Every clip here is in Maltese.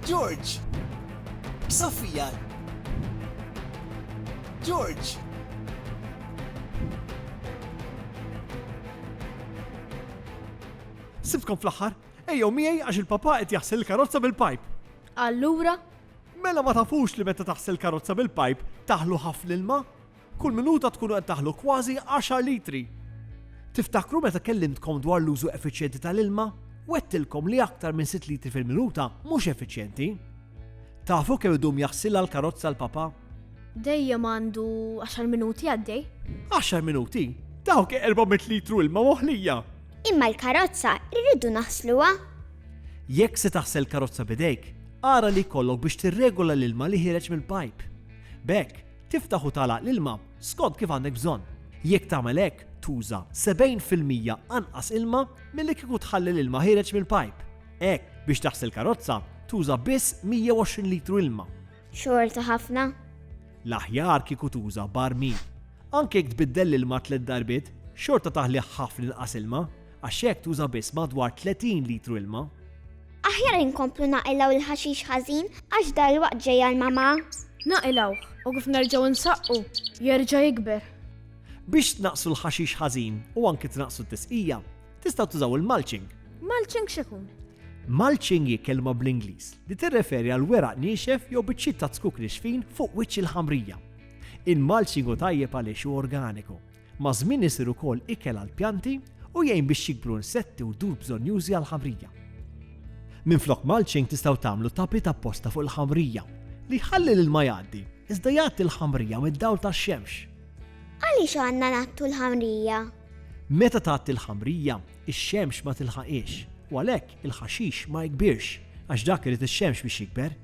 George! Sofia! George! Sibtkom fl-aħħar! Ejjew miegħi għax il-Papà qed jaħsel il-karozza bil-pajp! Allura? Mela ma tafux li meta taħsel karozza bil-pajp taħlu ħafna ilma? Kull minuta tkunu qed taħlu kważi għaxar litri! Tiftakru meta kellimtkom dwar l-użu effiċjenti tal-ilma? Wegħdtilkom li aktar minn sitt litri fil-minuta mhux effiċjenti! Tafu kemm idum jaħsilha l-karozza l-Papà? Dejjem għandu għaxar minuti għaddej. Għaxar minuti? Dawk erba' mit litru ilma moħlija! Imma l-karozza rridu naħsluha. Jekk se taħsel karozza b'idejk, ara li jkollok biex tirregola l-ilma li ħiereġ mill-pajp. B'hekk, tiftaħ u tagħlaq l-ilma skont kif għandek bżonn. Jekk tagħmel hekk, tuża 70 fil-mija anqas ilma milli kieku tħalli l-ilma ħiereġ mill-pajp. Hekk, biex taħsel karozza, tuża biss 120 litru ilma. Xorta ħafna. L-aħjar kieku tuża barmil. Anke jekk tbiddel l-ilma tliet darbiet, xorta taħli ħafna inqas ilma għax hekk tuża biss madwar 30 litru ilma. Aħjar inkomplu naqilgħu l-ħaxix ħażin għax dalwaqt ġej għall-mama. Naqilgħuh u kif nerġgħu nsaqqu jerġa' jikber. Biex tnaqqsu l-ħaxix ħażin u anki tnaqqsu t-tisqija, Tistgħu tużaw il-mulching. Mulching x'ikun? Mulching hi kelma bl-Ingliż li tirreferi għal weraq niexef jew biċċiet ta' tzkuk nixfin fuq wiċċ il-ħamrija. Il-mulching hu tajjeb għaliex hu organiku. Ma' żmien isir ukoll ikel għal pjanti u jgħin biex jikbru insetti u dur bżonjużi għal ħamrija. Minn flok mulching tistgħu tagħmlu tapit apposta fuq il-ħamrija li ħalli lil ma jgħaddi, iżda jgħaddi l-ħamrija mid-dawl tax-xemx. Għaliex għandna nattu l-ħamrija? Meta tgħatti l-ħamrija, ix-xemx ma tilħaqhiex, u għalhekk il-ħaxix ma jikbirx, għax dak irid ix-xemx biex jikber.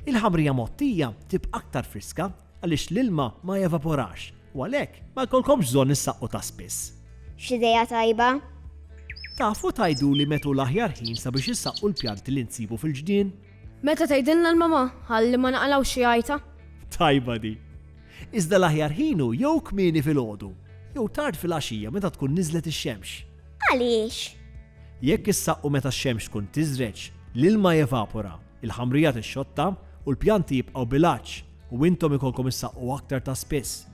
Il-ħamrija mgħottija tibqa' aktar friska għaliex l-ilma ma jevaporax, u għalhekk ma jkollkomx bżonn issaqqu ta' spiss. X'idea tajba! Tafu tgħiduli methu l-aħjar ħin sabiex issaqqu l-pjanti li nsibu fil-ġnien? Meta tgħidilna l-mama ħalli ma naqalgħux xi għajta? Tajba di. Iżda l-aħjar ħin hu jew kmieni filgħodu, jew tard filgħaxija meta tkun niżlet ix-xemx. Għaliex? Jekk issaqqu meta x-xemx tkun tiżreġ, l-ilma jevapora, il-ħamrija tixxotta u l-pjanti jibqgħu bil-għatx u intom ikolkom issaqqu aktar ta' spiss.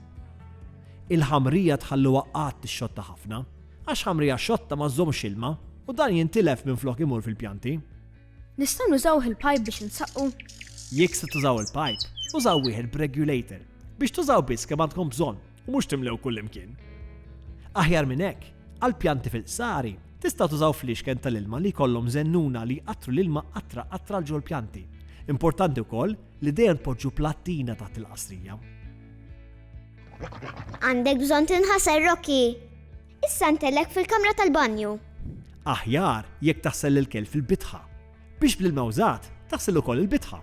Il-ħamrija tħalluha qatt tixxotta ħafna, għax ħamrija xotta ma żżommx ilma u dan jintilef minflok imur fil-pjanti. Nistgħu nużawh il-pipe biex insaqqu? Jekk se tużaw il-pipe, użaw wieħed b'regulator biex tużaw biss kemm għandkom bżonn u mhux timlew kullimkien. Aħjar minn hekk, għall-pjanti fil-qsari, tistgħu tużaw fliexken tal-ilma li jkollhom żennuna li jqattru l-ilma qatra qatra 'l ġol-pjanti. Importanti wkoll li dejjem tpoġġu plattina taħt il-qasrija. Għandek bżonn tinħasel, Rocky! Issa ntellek fil-kamra tal-banju. Aħjar jekk taħsel l-ikel fil-bitħa, biex bl-ilma wżat taħsel ukoll il-bitħa.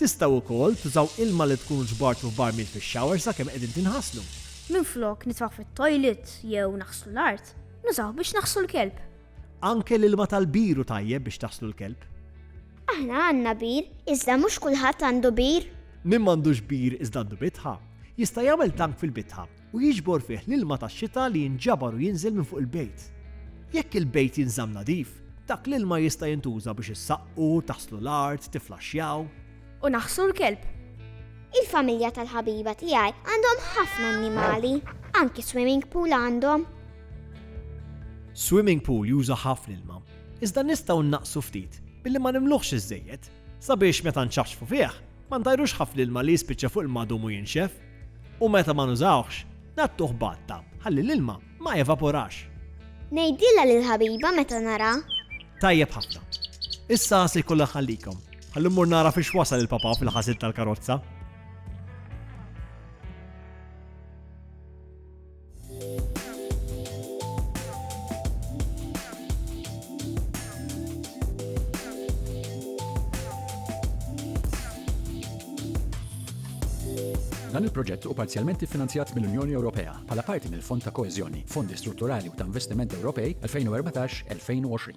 Tistgħu wkoll tużaw ilma li tkunu ġbartu f'barmil fix-shower sakemm qegħdin tinħaslu. Minflok nitfgħu fit-toilet jew naħslu l-art, nużawh biex naħslu l-kelb. Anke l-ilma tal-bir hu tajjeb biex taħslu l-kelb. Aħna għandna bir, iżda mhux kulħadd għandu bir. Min m'għandux bir iżda għandu bitħa, jista' jagħmel tank fil-bitħa u jiġbor fih l-ilma tax-xita li jinġabar u jinżel minn fuq il-bejt. Jekk il-bejt jinżamm nadif, dak l-ilma jista' jintuża biex issaqqu, taħslu l-art, tifflaxxjaw. U naħħsu l-kelb. Il-familja tal-ħabiba tiegħi għandhom ħafna annimali. Anki swimming pool għandhom. Swimming pool juża ħafna ilma, iżda nistgħu nnaqqsu ftit billi ma nimluhx iżżejjed, sabiex meta nċaċċfu fih, ma ntajrux ħafna ilma li jispiċċa fuq il-madum u jinxef. U meta ma nużawhx, ngħattuh b'għatta ħalli l-ilma ma jevaporax. Ngħidilha lill-ħabiba meta naraha. Tajjeb ħafna. Issa se jkollha tħallikom. Ħalli mmur nara fiex wasal il-papa fil-ħasil tal-karozza. Dan il-proġett u parzjalment finanzjat mill-Unjoni Ewropea bħala parti mill-Fond ta' Koeżjoni, Fondi Strutturali u ta' Investiment Ewropej 2014-2020.